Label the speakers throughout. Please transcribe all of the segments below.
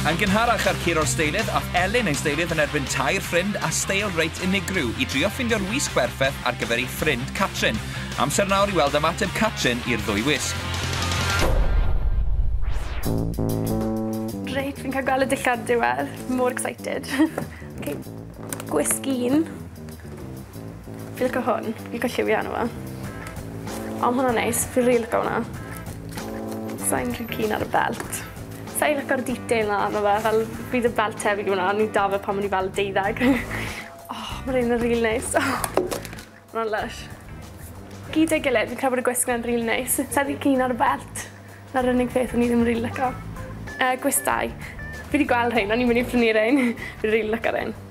Speaker 1: Yn gynharach ar Ciro Steilydd, a Elin ei Steilydd yn erbyn tair ffrind a steil reit unigryw i drio ffindio'r wisg berffaith ar gyfer ei ffrind Catrin. Amser nawr i weld ymateb Catrin i'r ddwy wisg.
Speaker 2: Reit, fi'n cael gweld y dillad diwedd. More excited. okay. Gwisg un. Fi lico hwn. Fi lico lliwio arno fo. O ma' hwnna'n neis. Fi rili lico wnna. Sai'n rhy keen ar y belt. Sai lico'r detail 'na arno fe fel bydd y belt tebyg i wnna o'n i 'da fe pan o'n i fel deuddeg. O ma' rein yn ril neis. O! Ma' wnna'n lysh. Gyda'i gilydd fi'n credu bod y gwisg 'na'n rili neis. Sai rhy keen ar y belt. 'na'r unig peth o'n i ddim rili lico. Yy gwestai. Fi 'di gweld rhein o'n i'n myn' i prynu rein. Fi rili lico rein.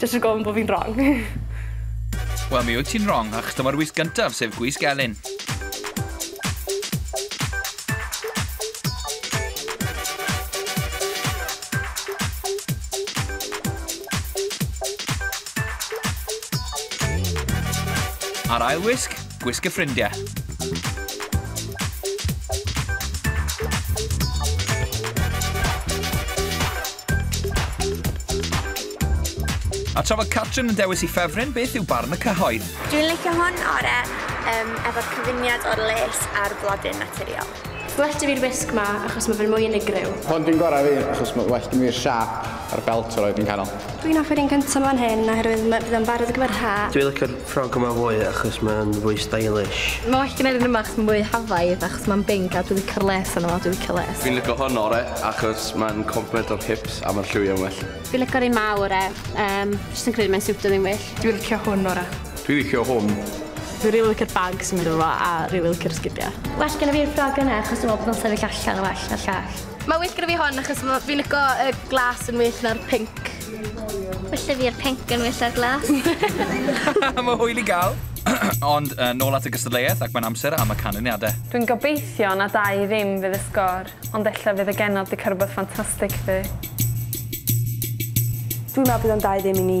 Speaker 2: Jyst rhag ofn bod fi'n wrong.
Speaker 1: Wel, mi wyt ti'n wrong, ach dyma'r wyth gyntaf, sef gwisg Elin. Ar ail wisg, Gwisg y ffrindiau. A tra fod Catrin yn dewis i ffefryn, beth yw barn y cyhoedd? Dwi'n licio hwn
Speaker 3: ore um, efo'r cyfuniad o'r les a'r blodyn naturiol. Well da fi'r wisg
Speaker 2: ma achos ma fe'n mwy unigryw. Hwn dwi'n gorau fi
Speaker 4: achos ma well da fi'r siâp a'r belt roedd yn canol. Dwi'n offi'r un cynta ma
Speaker 2: fan hyn oherwydd ma fydd o'n barod ar gyfer yr ha. Dwi licio'r ffrog yma
Speaker 5: fwy achos mae o'n fwy stylish. Ma well genai'r un yma
Speaker 6: achos ma'n mwy hafaidd achos ma'n binc a dwi licio'r les arno fo, dwi licio les. Fi'n licio hwn ore
Speaker 7: achos ma'n complemento'r hips a ma'r lliwiau'n well. Fi'n licio'r un ma
Speaker 8: ore, yym, jyst yn credu mae'n siwtio fi'n well. Dwi licio hwn ore.
Speaker 6: Dwi licio hwn.
Speaker 7: Dwi rili licio'r
Speaker 6: bag sy'n mynd efo fo a rili licio'r sgidia. Well gynna fi'r ffrog
Speaker 8: yna achos dwi me'wl bod o'n sefyll allan yn well na'r llall. Mae well gynna fi hon
Speaker 6: achos ma' fi'n lico y glas yn well na'r pinc. Well
Speaker 8: 'da fi'r pinc yn well na'r glas.
Speaker 1: Mae hwyl i gael. Ond yy nôl at y gystadleuaeth ac mae'n amser am y canlyniadau. Dwi'n gobeithio
Speaker 2: na dau ddim fydd y sgor, ond ella fydd y genod 'di cael rhywbeth ffantastig 'fyd. Dwi'n meddwl
Speaker 9: bydd o'n dau ddim i ni.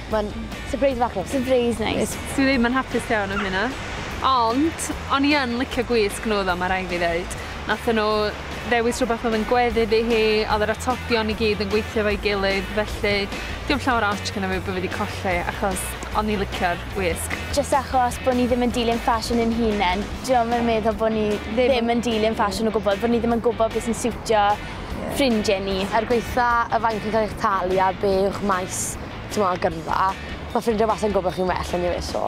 Speaker 8: Mae'n sypreis
Speaker 3: fach neis. Sypreis neis. Dwi
Speaker 8: ddim yn hapus
Speaker 9: iawn am hynna. Ond, o'n i yn licio gwisg nhw ddo, ma' rai' fi ddeud. Nathon nhw ddewis rhwbeth oedd yn gweddu iddi hi, oedd yr atebion i gyd yn gweithio efo'i gilydd, felly dim llawer o ots gynna fi bo' fi 'di colli achos o'n i licio'r gwisg. Jyst achos bo'
Speaker 8: ni ddim yn dilyn ffasiwn ein hunen, dwi'm yn meddwl bo' ni ddim yn dilyn ffasiwn o gwbwl, bo' ni ddim yn gwbod be' sy'n siwtio ffrindie ni. Er gwaetha' y faint
Speaker 3: chi'n ca'l eich talu a be' yw'ch maes, Dyma gyrfa. Mae ffrindiau wastad yn gwybod chi'n well eniwe so.